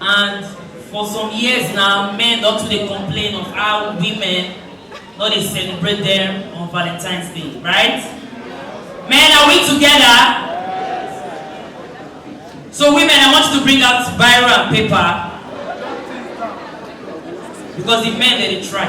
And for some years now, men don too dey complain of how women no dey celebrate them on Valentine's Day, right? Men, are we together? So women, I want you to bring out biro and paper because the men dey dey try.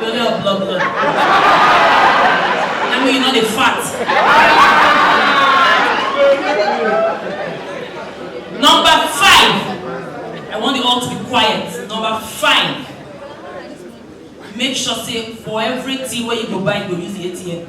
Blood, blood, blood, blood. I mean, you know the fat. Number five. I want you all to be quiet. Number five. Make sure say for everything where you go buy, you go use the ATM.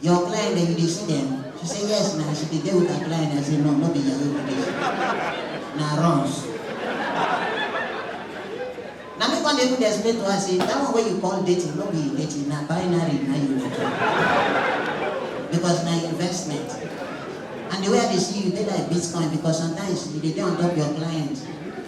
Your client dem dey see dem? She say yes na, she dey dey with her client, I say no, no be yahoo be this. Na runs. Na me come dey even dey explain to her say that one wey you call dating no be dating, na binary na you dey do. Because na investment. And the way I dey see you, you dey like bitcoin because sometimes you dey dey on top your client.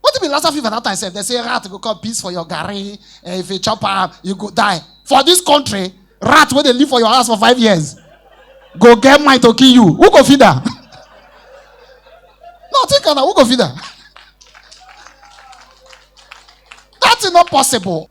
What be Lassa fever that time sef? They say rat go come piss for your garri. Eh, if you chop am, you go die. For this country, rat wey dey live for your house for five years go get mind to kill you. Who go feed am? no, think am na who go feed am? That is not possible.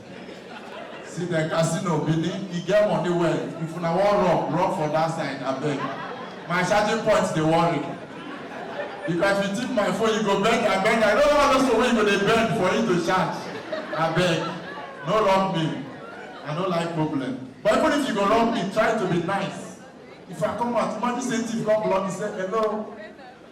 See the casino Benin, e get money well. If una wan run, run for that side, abeg. My charging point dey worry. If I fit tip my phone, you go bend, I bend. I no know all those people wey you go dey bend for you to charge. Abeg, no rob me. I no like problem. But even if you go rob me, try to be nice. If I come out, imagine say thief come block me, say hello.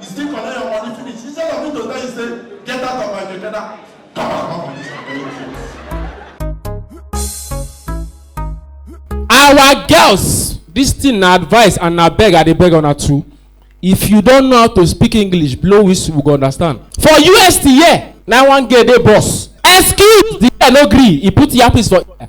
You still collect your money finish. Instead of me to tell you say, get out of my keke now. Come out of my keke. our girls this thing na advice and na beg i dey beg una too if you don know how to speak english blow whistle we go understand for us the year na one girl dey boss excuse the girl no gree he put earpiece for ear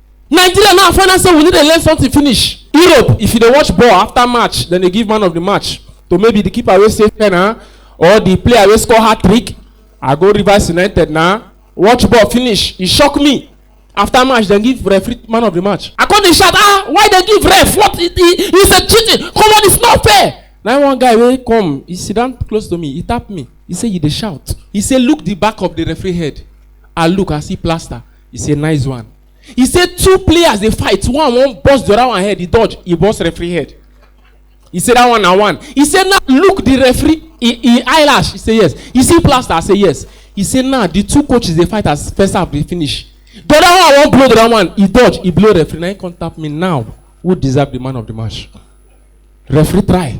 nigeria now find out say we no dey learn something finish europe if you dey watch ball after match dem dey give man of the match to maybe the keeper wey save pen na or the player wey score hat trick i go rivers united na watch ball finish e shock me after match dem give referee man of the match i come dey shout ah why dem give ref what he he he say cheating come on it's not fair na one guy wey come he sit down close to me he tap me he say you dey shout he say look the back of the referee head i look i see plaster He say nice one. He say two players dey fight, one wan burst the other one head, he dodge, he burst referee head. He say that one na one. He say now look the referee in, in eyelash. He say yes. He see plaster. I say yes. He say now the two coaches dey fight as first half dey finish. The other one wan blow the other one, he dodge, he blow referee. Now he come tap me now. Who deserve the man of the match? Referee try.